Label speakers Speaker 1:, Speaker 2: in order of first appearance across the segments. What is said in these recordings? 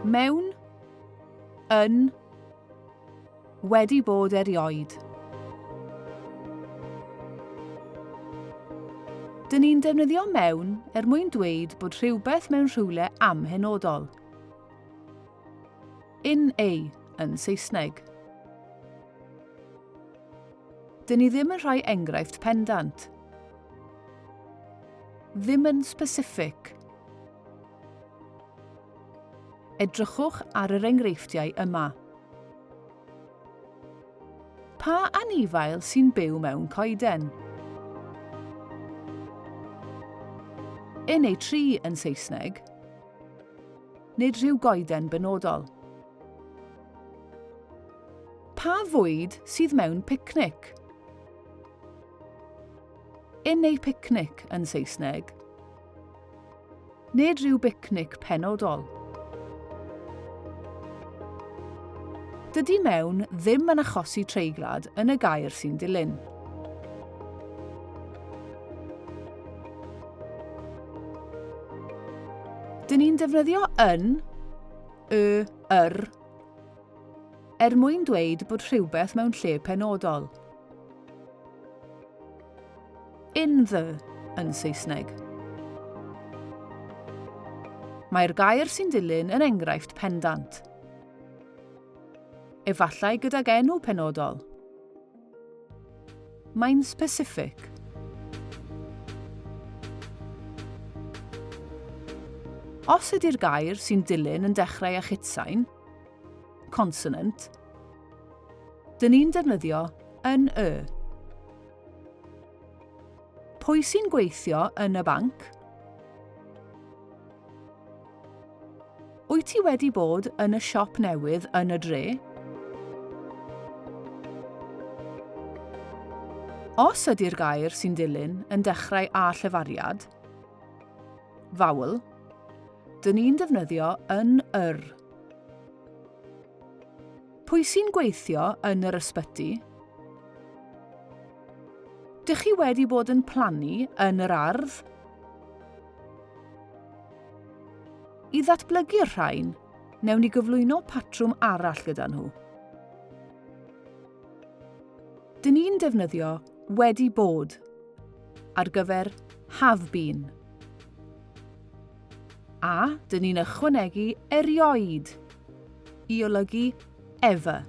Speaker 1: Mewn. Yn. Wedi bod erioed. Dyn ni'n defnyddio mewn er mwyn dweud bod rhywbeth mewn rhywle amhenodol. In a yn Saesneg. Dyn ni ddim yn rhoi enghraifft pendant. Ddim yn specific. Edrychwch ar yr enghreifftiau yma. Pa anifail sy'n byw mewn coeden? Yn ei tri yn Saesneg. Nid rhyw goeden benodol. Pa fwyd sydd mewn picnic? In a picnic yn Saesneg. Nid rhyw bicnic penodol. Dydy mewn ddim yn achosi treiglad yn y gair sy'n dilyn. Dyn ni'n defnyddio yn, y, yr, Er mwyn dweud bod rhywbeth mewn lle penodol. In the, yn Saesneg. Mae'r gair sy'n dilyn yn enghraifft pendant. Efallai gydag enw penodol. Mae'n specific. Os ydy'r gair sy'n dilyn yn dechrau â chitsain, Consonant. Dyn ni'n defnyddio yn y. Pwy sy'n gweithio yn y banc? Wyt ti wedi bod yn y siop newydd yn y dre? Os ydy'r gair sy'n dilyn yn dechrau â llefariad, vowel, Dyn ni'n defnyddio yn yr. Pwy sy'n gweithio yn yr ysbyty? Dych chi wedi bod yn plannu yn yr ardd? I ddatblygu'r rhain, newn ni gyflwyno patrwm arall gyda nhw. Dyn ni'n defnyddio wedi bod ar gyfer have been. A, dyn ni'n ychwanegu erioed i olygu ever.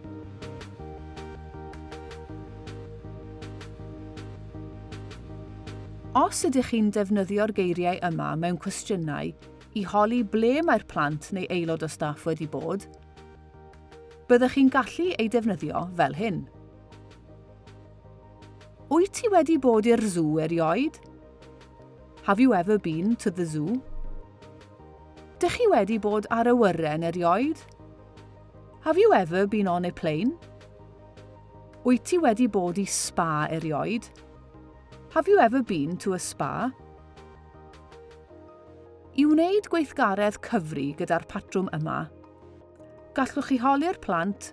Speaker 1: Os ydych chi'n defnyddio'r geiriau yma mewn cwestiynau i holi ble mae'r plant neu aelod o staff wedi bod, byddwch chi'n gallu ei defnyddio fel hyn. Wyt ti wedi bod i'r sŵ erioed? Have you ever been to the zoo? Dych chi wedi bod ar awyren erioed? Have you ever been on a plane? Wyt ti wedi bod i spa erioed? Have you ever been to a spa? I wneud gweithgaredd cyfri gyda'r patrwm yma, gallwch chi holi'r plant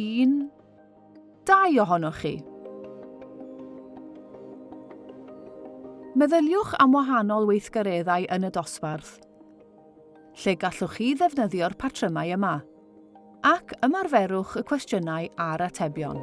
Speaker 1: Un, dau ohonoch chi. Meddyliwch am wahanol weithgareddau yn y dosbarth, lle gallwch chi ddefnyddio'r patrymau yma, ac ymarferwch y cwestiynau a'r atebion.